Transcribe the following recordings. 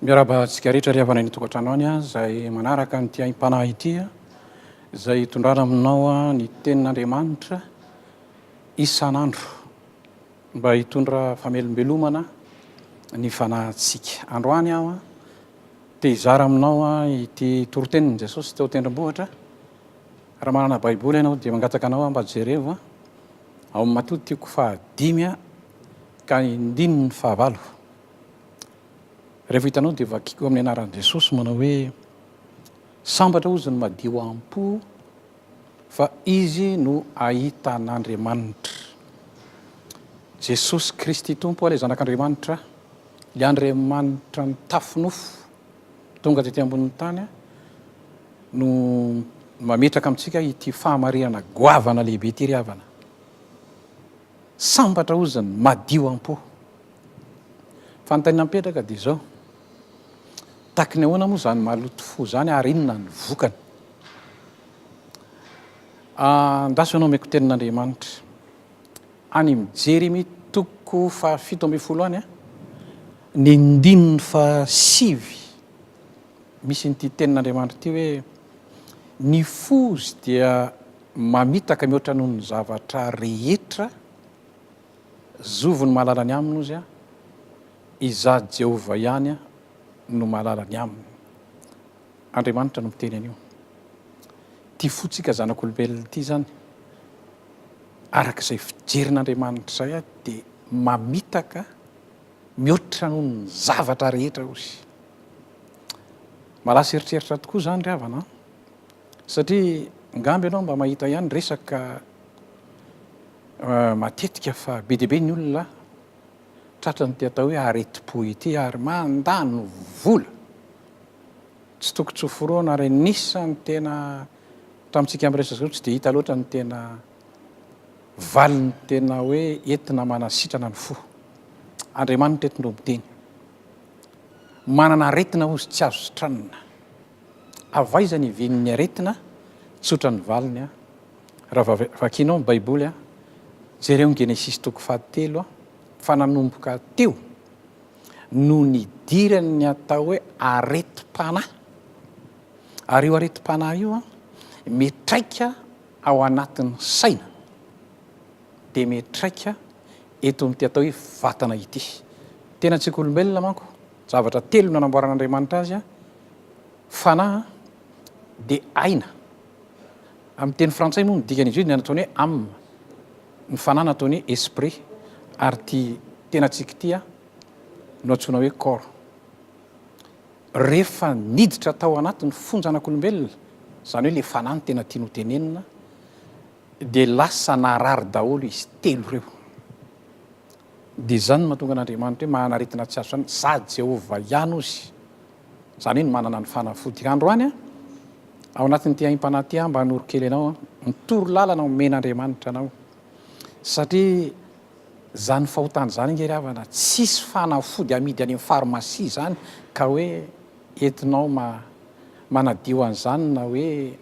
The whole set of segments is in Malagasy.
Miarahaba antsika rehetra ry havana any tokantrano any izay manaraka an'ity aim-panahy ity izay hitondrana aminao ny tenin'Andriamanitra isan'andro mba hitondra famelombelomana ny fanahintsika. Androany aho te hizara aminao ity torotenin'i Jesosy teo tendrombohitra. Raha manana Baiboly ianao dia mangataka anao aho mba jerevo ao amin'ny Matotio fahadimy ka indininy fahavalo. Rehefa hitanao dia vakio amin'ny anaran'i Jesosy manao hoe sambatra hozy ny madio am-po fa izy no ahita an'Andriamanitra. Jesosy Kristy Tompo ilay Zanak'Andriamanitra, ilay Andriamanitra mitafy nofo tonga tety ambonin'ny tany no mametraka amintsika ity fahamarinana goavana lehibe ity ry havana. Sambatra hozy ny madio am-po. Fanontaniana mipetraka dia izao, taky ny ahoana moa izany maloto fo izany ary inona ny vokany? Andraso ianao omeko tenin'Andriamanitra. Any amin'ny Jeremia toko fahafito ambin'ny folo any, ny ndininy fahasivy, misy an'ity tenin'Andriamanitra ity hoe, ny fozy dia Mamitaka mihoatra noho ny zavatra rehetra zovy ny mahalala ny aminy, hozy aho, Izaho Jehovah ihany no mahalala ny aminy. Andriamanitra no miteny an'io. Ity fontsika zanak'olombelona ity izany, araka izay fijerin'Andriamanitra izay, dia mamitaka mihoatra noho ny zavatra rehetra, hozy. Mahalasa eritreritra tokoa izany ry havana an! Satria ngamba ianao mba mahita ihany resaka matetika fa be dia be ny olona tratran'ity atao hoe aretim-po ity ary mandany vola tsy toko tsy hoforonina ary anisan'ny tena tamintsika miresaka izao tsy dia hita loatra ny tena valiny tena hoe entina manasitrana ny fo. Andriamanitra eto no miteny. Manana aretina hozy tsy azo sitranina. Avy aiza ny vinin'ny aretina? Tsotra ny valiny a! Raha vakianao ny Baiboly a, jereo ny Genesisy toko fahatelo a, fa nanomboka teo no nidiran'ny atao hoe aretim-panahy. Ary io aretim-panahy io a, mitraika ao anatin'ny saina, dia mitraika eto amin'ity atao hoe vatana ity. Tenantsika olombelona manko, zavatra telo no nanamboaran'Andriamanitra azy a, Fanahy dia aina. Amin'ny teny frantsay moa ny dikan'izy io dia ny ataony hoe âme, ny fanahy no ataony hoe esprit ary ity tenantsika ity no antsoina hoe corps. Rehefa niditra tao anatin'ny fonjanak'olombelona, izany hoe ilay fanahy no tena tiany hotenenina, dia lasa narary daholo izy telo ireo. Dia izany no mahatonga an'Andriamanitra hoe mahanaretina tsy azo sandoka, sady Jehovah ihany ozy. Izany hoe ny manana ny fanafody. Androany, ao anatin'ity aim-panahy ity aho mba hanoro kely anao, ny toro lalana omen'Andriamanitra anao. Satria izany fahotana izany ange ry havana, tsisy fanafody amidy any amin'ny pharmacie izany ka hoe entinao ma- manadio an'izany na hoe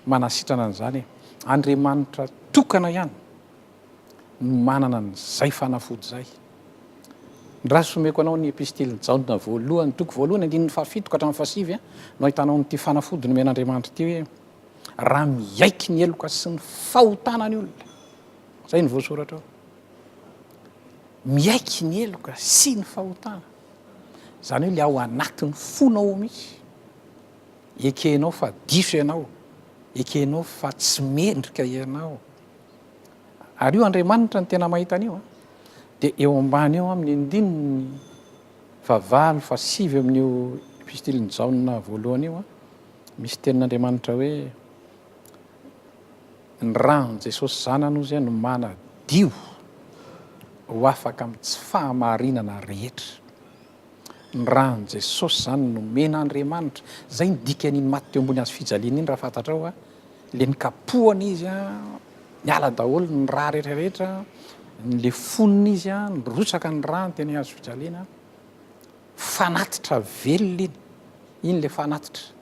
manasitrana an'izany e. Andriamanitra tokana ihany. no manana an'izay fanafody izay. Ndra sy omeko anao ny epistilin'i Jaona voalohany, toko voalohany, andininy fahafito ka hatramin'ny fahasivy, no ahitanao an'ity fanafody nomen'Andriamanitra ity hoe, Raha miaiky ny heloka sy ny fahotana ny olona. Izay no voasoratra ao. Miaiky ny heloka sy ny fahotana. Izany hoe ilay ao anatin'ny fonao ao mihitsy. Ekenao fa diso ianao. Ekenao fa tsy mendrika ianao. Ary io Andriamanitra no tena mahita an'io a. Dia eo ambany eo amin'ny andininy fahavalo, fahasivy amin'io epistilin'i Jaona voalohany io a, misy tenin'Andriamanitra hoe ny ran'i Jesosy Zanany hozy no manadio ho afaka amin'ny tsy fahamarinana rehetra. Ny ran'i Jesosy izany nomen'Andriamanitra. Izay no dikan'iny maty teo ambony hazo fijaliana iny raha fantatrao va? Ilay nikapohana izy, niala daholo ny ra rehetra rehetra, nilefonina izy, nirotsaka ny rany teny hazo fijaliana. Fanatitra velona iny, iny ilay fanatitra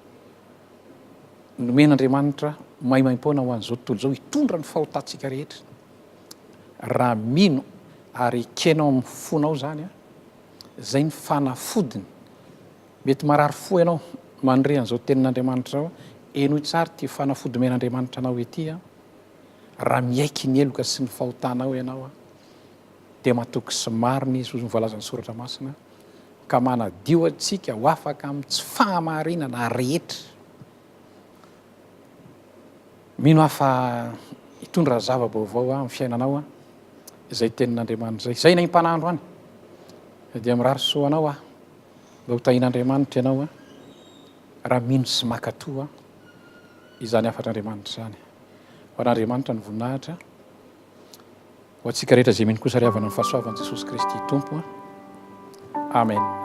nomen'Andriamanitra maimaim-poana ho an'izao tontolo izao hitondra ny fahotantsika rehetra. Raha mino ary ekenao amin'ny fonao izany, Izay ny fanafodiny. Mety marary fo ianao mandre an'izao tenin'Andriamanitra izao, henoy tsara ity fanafody omen'Andriamanitra anao ity, Raha miaiky ny heloka sy ny fahotanao ianao, dia matoky sy marina Izy, hoy ny voalazan'ny Soratra Masina, ka manadio antsika ho afaka amin'ny tsy fahamarinana rehetra. Mino aho fa hitondra zava-baovao ho ahy amin'ny fiainanao aho, izay tenin'Andriamanitra izay. Izay naim-panandro any, dia mirary soa anao aho. Mba ho tahin'Andriamanitra ianao aho, raha mino sy mankatoa izany hafatr'Andriamanitra izany. Ho an'Andriamanitra ny voninahitra. Ho antsika rehetra izay mino kosa ry havana ny fahasoavan'i Jesosy Kristy Tompo. Amen.